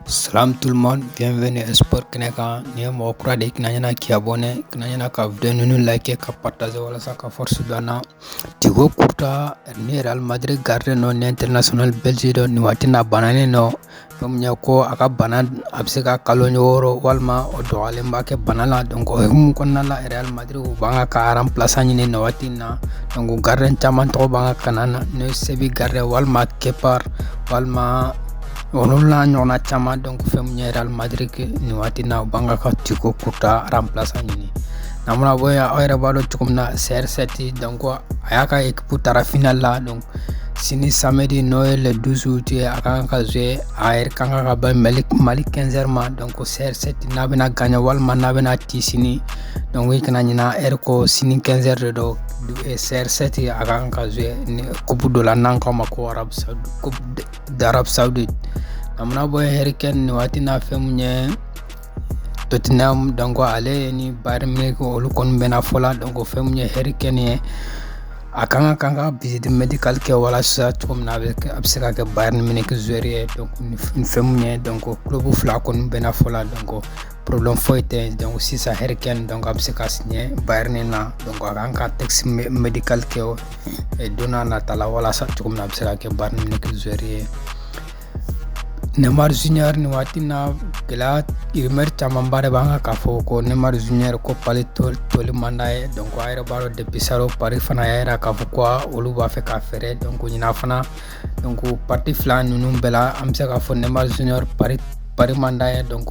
Salam tout le monde, bienvenue à Sport kɛnɛ kan n'i ye mɔgɔ kura de ye kana ɲina k'i abonné kana ɲina ka video ninnu liker ka partager walasa ka force don an na Thibaut Courtois ni Real Madrid gardien don ni international belge don nin waati in na a bananen don fɛn min ye ko a ka bana a bɛ se ka kalo wɔɔrɔ walima o dɔgɔyalenba kɛ bana la donc o hukumu kɔnɔna la Real Madrid u b'a kan k'a remplaçant ɲini nin waati in na donc gardien caman tɔgɔ b'an ka kalan na n'o ye Séville gardien walima Kepa walima Olu n'a ɲɔgɔnna caman donc fɛn mun ye Real Madrid nin waati na u b'a kan ka Thibaut Courtois remplaçant ɲini n'an mana bɔ yen aw yɛrɛ b'a dɔn cogo min na CR7 donc a y'a ka équipe taara final la donc sini samedi n'o ye le 12 août ye a kan ka jouer a heure kan ka bɛn Mali 15 heures ma donc CR7 n'a bɛna gagner walima n'a bɛna ci sini donc i kana ɲina heure ko sini 15 heures de don CR7 a kan ka jouer ni coupe dɔ la n'an k'a ma ko Arabie Saoudite coupe d'Arabie Saoudite n'an mana bɔ yen Harry Kane ni waati na fɛn mun ye Tottenham donc ale ni Bayern Munich olu kɔni bɛnna fɔ la donc fɛn mun ye Harry Kane ye a kan ka kan ka visite médicale kɛ walasa cogo min na a bɛ kɛ- a bɛ se ka kɛ Bayern Munich joueur ye donc ni f- ni fɛn mun ye donc club fila kɔni bɛnna fɔ la donc problème foyi tɛ donc sisan Harry Kane donc a bɛ se ka signer Bayern na donc a kan ka test médical kɛ o don n'a nata la walasa cogo min na a bɛ se ka kɛ Bayern Munich joueur ye Neymar Junior nin waati na gɛlɛya rumeur camanba de b'a kan k'a fɔ ko Neymar Junior ko Paris toli man d'a ye donc aw yɛrɛ b'a dɔn depuis salon Paris fana y'a jira k'a fɔ ko olu b'a fɛ k'a feere donc ɲinan fana donc partie fila ninnu bɛɛ la an bɛ se k'a fɔ Neymar Junior Paris Paris man d'a ye donc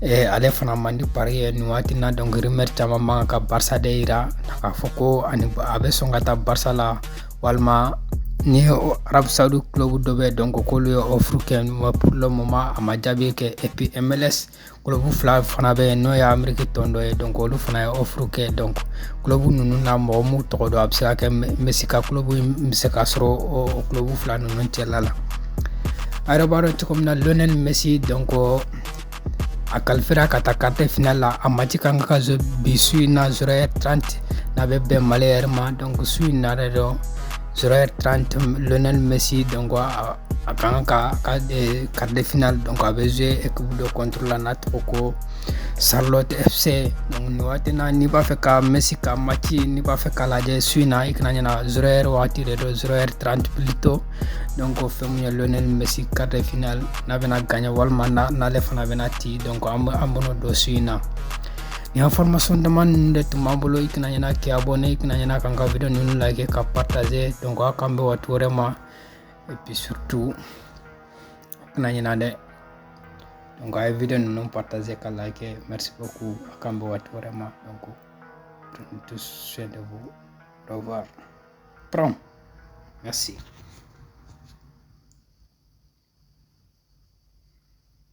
eh, ale fana man di Paris ye nin waati na donc rumeur caman b'a kan ka Barça de yira k'a fɔ ko ani a bɛ sɔn ka taa Barça la walima ni Arab Saudi club dɔ bɛ donc k'olu ye offre kɛ pour le moment a ma jaabi kɛ et puis MLS club fila fana bɛ yen n'o ye Amérique tɔn dɔ ye donc olu fana ye offre kɛ donc club ninnu na mɔgɔ m'u tɔgɔ dɔn a bɛ se ka kɛ Messi ka club bɛ se ka sɔrɔ o club fila ninnu cɛla la aw yɛrɛ b'a dɔn cogo min na Lionel Messi donc a qualifiéra ka taa quart de finale la a match kan ka jouer bi su in na zéro heure 30 n'a bɛ bɛn Mali heure ma donc su in na yɛrɛ don zéro heure trente Lionel Messi donc a a kan ka ka eh, quart de finale donc a bɛ jouer équipe dɔ contre la n'a tɔgɔ ko Charlotte FC donc nin waati na n'i b'a fɛ ka Messi ka match n'i b'a fɛ k'a lajɛ su in na i kana ɲina zéro heure waati de don zéro heure trente plutôt donc fɛn mun ye Lionel Messi quart de finale n'a bɛna gagner walima n'ale fana bɛna ci donc an bɛn'o dɔn su in na Ni information dama ninnu de tun b'an bolo i kana ɲina k'i abonné i kana ɲina k'an ka video ninnu like ka partager donc a k'an bɛn waati wɛrɛ ma et puis surtout a kana ɲina dɛ donc a ye video ninnu partager ka like merci beaucoup a k'an bɛn waati wɛrɛ ma donc prenez tous soin de vous au revoir grand merci